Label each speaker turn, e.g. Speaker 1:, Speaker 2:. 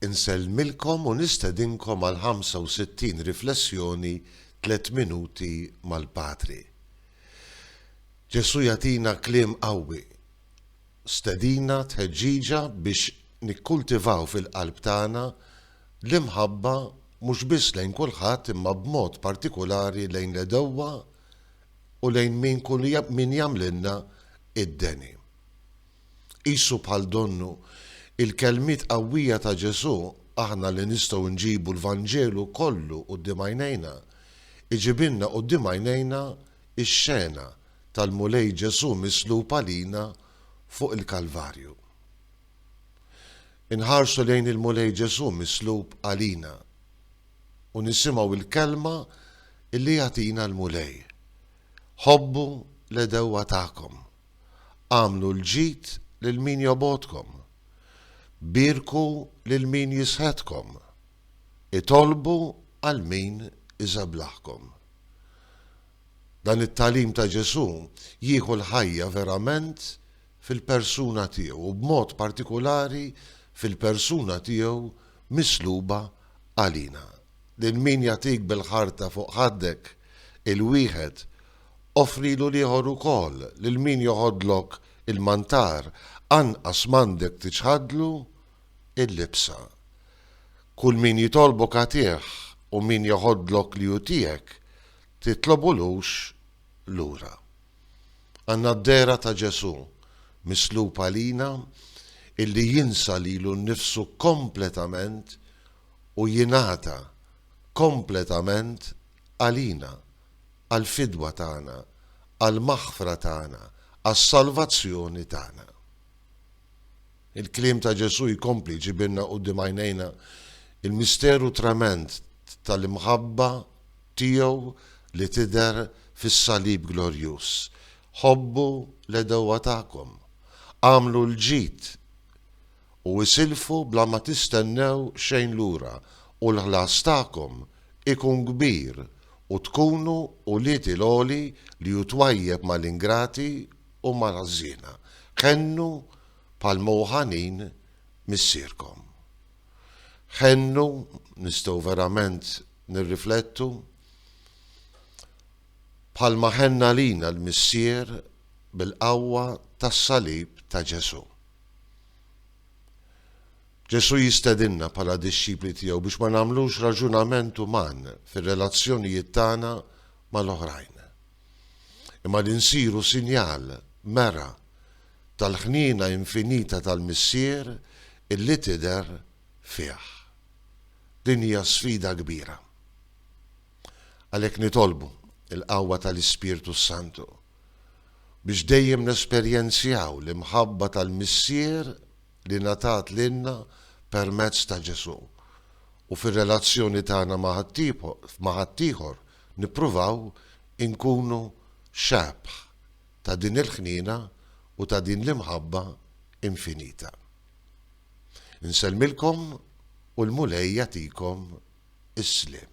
Speaker 1: Insellmilkom u nistedinkom għal 65 riflessjoni tliet minuti mal-Patri. Ġesù jagħtina kliem qawwi, stedina, tħeġġiġa biex nikkultivaw fil-qalb tagħna l-imħabba mhux biss lejn kulħadd imma b'mod partikulari lejn l-għedewwa u lejn min kull min jagħmlilna id-deni. Qisu bħal donnu, il-kelmiet qawwija ta' Ġesù, aħna li nistgħu nġibu l-Vanġelu kollu quddiem għajnejna, iġibilna quddiem għajnejna x-xena tal-Mulej Ġesù mislub għalina fuq il-Kalvarju. Inħarsu lejn il-Mulej Ġesù mislub għalina u nisimgħu l-kelma li jagħtina l-Mulej, Ħobbu l-għedewwa tagħkom. Agħmlu l-ġid lil min jobgħodkom. Bierku lil min jisħetkom. Itolbu għal min iżeblaħkom. Dan it-tagħlim ta' Ġesù jieħu l-ħajja verament fil-persuna tiegħu u b'mod partikulari fil-persuna tiegħu misluba għalina. Lil min jagħtik bil-ħarta fuq ħaddek, il-wieħed offrilu l-ieħor ukoll, lil min joħodlok il-mantar, anqas m'għandek tiċħadlu l-libsa. Kull min jitolbok agħtih, u min joħodlok li jutiek, titlobulux lura. Għandna d-dehra ta' Ġesù, mislub għalina, illi jinsa lilu nnifsu kompletament u jingħata kompletament għalina. għall-fidwa tagħna, għall-maħfra tagħna, għas-salvazzjoni tagħna. Il-kliem ta' Ġesù jkompli jġibilna quddiem għajnejna l-misteru tremend tal-imħabba tiegħu li tidher fis-salib glorjuż, Ħobbu l-għedewwa tagħkom, agħmlu l-ġid u isilfu bla ma tistennew xejn lura u l-ħlas tagħkom ikun kbir u tkunu ulied il-Għoli li hu twajjeb mal-ingrati u mal-ħżiena, ħennu bħalma hu ħanin Missierkom. Ħennu, nistgħu verament nirriflettu, bħalma ħenn għalina l-Missier bil-qawwa tas-salib ta' Ġesù. Ġesù jistedinna bħala dixxipli tiegħu biex ma nagħmlux raġunament uman fir-relazzjonijiet tagħna mal-oħrajn, imma li nsiru sinjal, mera, tal-ħniena infinita tal-Missier illi tidher fih. Din hija sfida kbira. Għalhekk nitolbu l-qawwa tal-Ispirtu s-Santu biex dejjem nesperjenzjaw l-imħabba tal-Missier li ngħatat lilna permezz ta' Ġesù u fir-relazzjoni tagħna ma' ħaddieħor nippruvaw inkunu xebh ta' din il-ħniena u ta' din l-imħabba infinita. Insellmilkom u l-Mulej jagħtikom is-sliem.